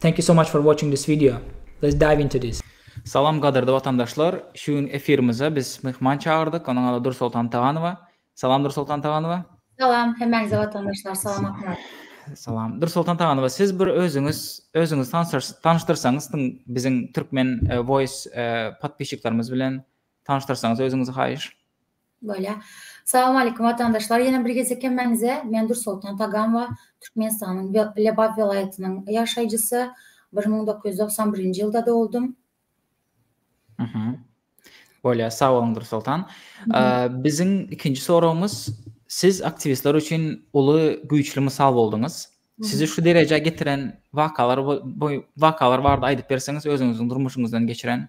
Thank you so much for watching this video. Let's dive into this. Salam gadyrdy watandaşlar. Şu gün efirimize biz myhman çagyrdyk. Onuň ady Dursoltan Taganowa. Salam Dursoltan Taganowa. Salam hemmäňize watandaşlar. Salam Akmyrat. Salam. Dursoltan Taganowa siz bir özüňiz özüňiz tanyşdyrsaňyz tüm biziň türkmen e, voice e, podpişiklerimiz bilen tanyşdyrsaňyz özüňizi haýyş. Bolýa. Salam aleýkum watandaşlar. Ýene bir gezek hemmäňize men Dursoltan Taganwa, Türkmenistanyň Lebap welaýatynyň ýaşaýjysy. Bir müň dokuz ýüz togsan birinji ýylda doguldym. Mhm. Bolýa, sag boluň Dursoltan. Biziň ikinji soragymyz siz aktiwistler üçin uly güýçli mysal bolduňyz. Sizi şu derejä getiren wakalar wakalar barada aýdyp berseňiz özüňiziň durmuşyňyzdan geçiren.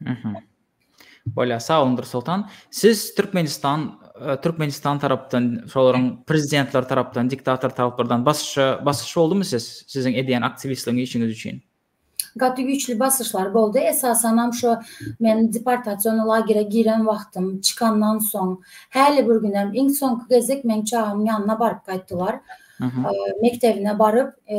Mhm. Bolýar, sag boluň Dursoltan. Siz Türkmenistan e, Türkmenistan tarapdan, şolaryň prezidentler tarapdan, diktator taraplardan basyşa basyş boldumy siz siziň edýän aktiwistligiň işiňiz üçin? Gaty güýçli basyşlar boldy. Esasan hem şu men deportasiýon lagere giren wagtym çykandan soň häli bir gün hem iň soňky gezek meň çagam ýanyna baryp gaýtdylar. Mekdebine baryp, e,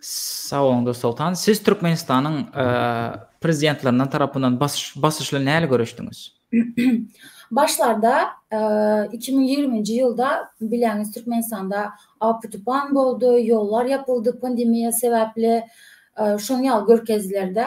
Sag boluň Dursoltan. Siz Türkmenistanyň prezidentlerinden tarapyndan basyşly näle görüşdiňiz? Başlarda 2020-nji ýylda bileňiz Türkmenistanda apy-tupan boldy, ýollar ýapyldy pandemiýa sebäpli, şoň ýaly görkezdiler-de.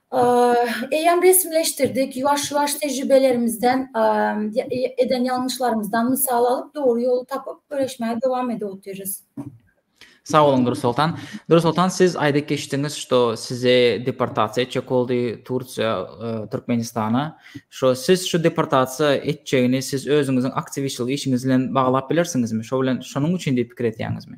Eýýäm resmileşdirdik. Ýuwaş-ýuwaş tejribelerimizden, eden ýalňyşlarymyzdan mysal alyp, dogry ýoly tapyp, göreşmäge dowam edip otyrys. Sag boluň, Dursoltan. Dursoltan, siz aýdyp geçdiňiz, şo sizi deportasiýa etjek boldy Tursiýa, Türkmenistana. Şo siz şu deportasiýa etjegini siz özüňiziň aktiwistçilik işiňiz bilen baglap bilersiňizmi? Şo bilen, şonuň üçin diýip pikir etýäňizmi?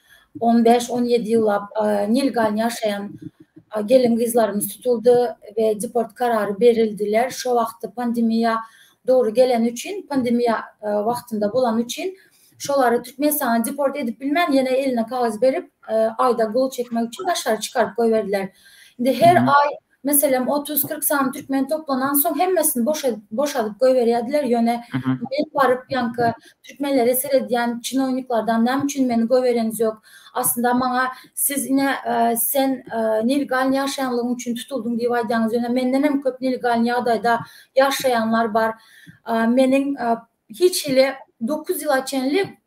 On bäş, on ýedi ýyllap nilgal ýaşaýan gelin-gyzlarymyz tutuldy we deport karary berildiler. Şo wagtda pandemiýa dogry geleni üçin, pandemiýa wagtynda bolany üçin şolary Türkmenistana deport edip bilmän, ýene eline kagyz berip, aýda gol çekmek üçin daşary çykaryp goýberdiler. Indi her aý Meselem, otuz-kyrk sany türkmeni toplanansoň, hemmesini boşadyp goýberýärdiler, ýöne men baryp, ýaňky türkmenlere seredýän çinowniklardan, Näme üçin meni goýbereňiz ýok? Aslynda maňa siz ine, sen nelegalny ýaşaýanlygyň üçin tutuldyň diýip aýdýaňyz, ýöne mendenem köp nelegalny ýagdaýda ýaşaýanlar bar. Meniň hiç hili dokuz ýyla çenli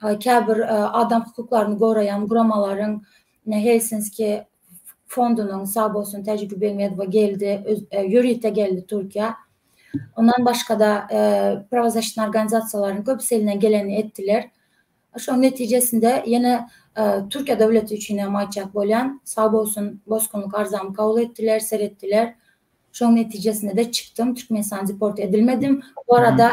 käbir adam hukuklaryny goraýan guramalaryň Helsinski fondunyň SABO-synyň Täjik Begmedowa geldi, ýörite geldi Türkiýä. Ondan başga-da prawozasitnaý organizasiýalaryň köpüsi elinden gelenini etdiler. Şonuň netijesinde ýene Türkiýe döwleti üçin hem aýtjak bolýan, SABO-synyň bosgunlyk arzamy kabul etdiler, seretdiler. Şonuň netijesinde-de çykdym, Türkmenistana deport edilmedim. Bu arada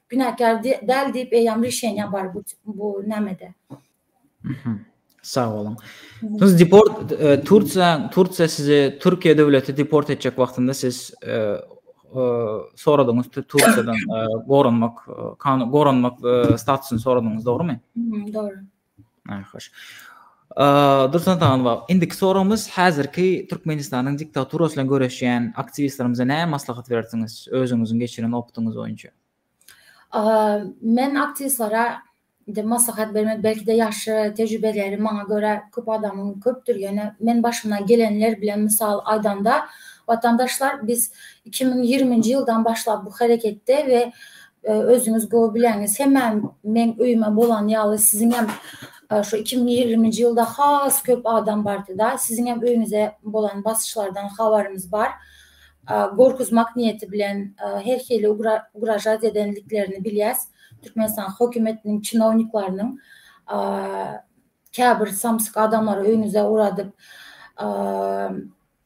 Günäkär däl diýip eýýäm rişeniýa bar bu bu nämede. Sag boluň. Siz deport e, Tursiýa Tursiýa sizi Türkiýe döwleti deport etjek wagtynda siz e, e, soradyňyz Tursiýadan goranmak goranmak statusyny soradyňyz, dogrumy? Dogry. Naýhoş. Dursun Atamanow, indiki soragymyz häzirki Türkmenistanyň diktaturasy bilen göreşýän aktiwistlerimize näme maslahat berersiňiz, özüňiziň geçiren opytyňyz boýunça? Men aktiwistlere indi maslahat bermek belki-de ýaşy, tejribeleri maňa görä köp adamyň köpdür, ýöne men başymdan gelenler bilen mysal aýdanda, watandaşlar biz iki müň ýigrimi nji ýyldan başlap bu hereketde we Özüňiz gowy bilýäňiz, hemmäm meň öýüme bolan ýaly siziňem şu iki müň ýigriminji ýylda has köp adam bardy-da, siziňem öýüňize bolan basyşlardan habarymyz bar. Gorkuzmak niýeti bilen her hili ugražat edendiklerini bilýäs, Türkmenistan hökümetiniň çinowniklarynyň käbir samsyk adamlary öýüňize ugradyp,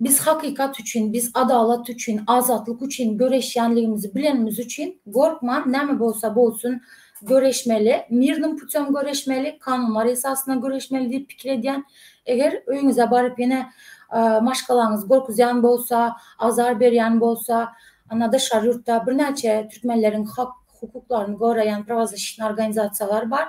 Biz hakykat üçin, biz adalat üçin, azatlyk üçin göreşýänligimizi bilenimiz üçin, gorkman näme bolsa bolsun göreşmeli, mirnim putem göreşmeli, kanunlar esasynda göreşmeli diýip pikir edýän. Eger öýüňize baryp ýene maşgalaňyzy gorkuzýan bolsa, azar berýän bolsa, anda daşary ýurtda birnäçe türkmenleriň hak hukuklaryny goraýan prawazişitnä organizasiýalar bar.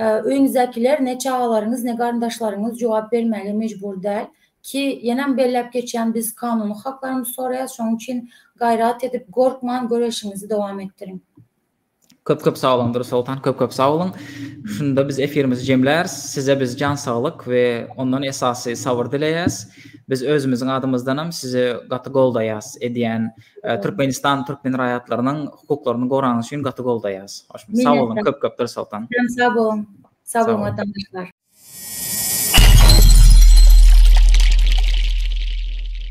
Öýüňizdäkiler, ne çagalaryňyz, ne garyndaşlaryňyz jogap bermäge mejbur däl. Ki, ýenem belläp geçýän, biz kanuny haklarymyzy soraýas, şonuň üçin gaýrat edip, gorkman göreşiňizi dowam etdiriň. Köp köp sag boluň Durus Soltan köp köp sag boluň. Şunda biz efirimizi jemläris. Size biz jan saglyk we ondan esasy sabyr dileýäs. Biz özümiziň adymyzdanam sizi gaty goldaýas edýän Türkmenistan türkmen raýatlarynyň hukuklaryny gorany üçin gaty goldaýas. Sag boluň köp köp Dursogtan. Sag boluň. Sag boluň watandaşlar.